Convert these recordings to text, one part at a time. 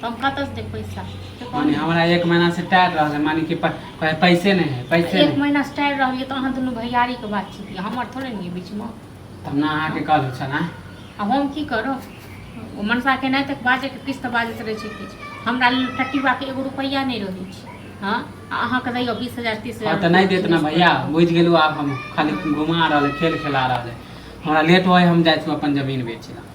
तो हम कतऽ से देब पैसा से कहू माने ने। हमरा एक महीना से टायर रहल माने कि प- प- पैसे नहीं है पैसे एक नहीं महीना से टायर रहलियै तऽ अहाँ दुनू भैयारी के बात छियै हमर थोड़े ने बीच में तब ना अहाँ के कल छल हाँ? आ हम की करब ओ मनसा के नहि तक बाजे के किछु तऽ बाजैत रहै छै किछु हमरा लेल टटिबा के एगो रुपैआ नहि रहै छै हँ आ अहाँके दैयौ बीस हजार तीस और हजार तो नहीं देत ना भैया बुझ गेलू आप हम खाली घुमा रहल है, खेल खेला रहल है। हमरा लेट होए हम जाए छी अपन जमीन बेचे ला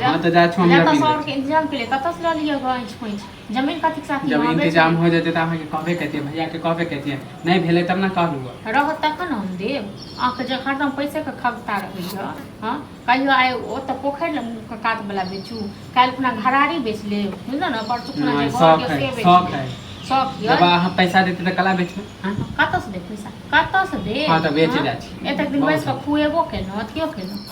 हाँ तो जा छो हम जमीन सौर के इंतजाम के लिए कत से लियो गंज पंच जमीन कथि के साथ जब इंतजाम हो जते त हम के कहबे कहते भैया के कहबे कहते नहीं भेले तब ना कह लूगा रह तक न हम दे आ के जे खत्म पैसे के खगता रहे छ हां कहियो आए ओ त पोखर ल के कात वाला बेचू काल अपना घरारी बेच ले बुझल ना पर चुकना जे घर के से बेच शौक है शौक है जब हम पैसा देते त कला बेच हां कत से दे पैसा कत से दे हां त बेच जा छी एतक दिन बैस के खुएबो के न अथियो के न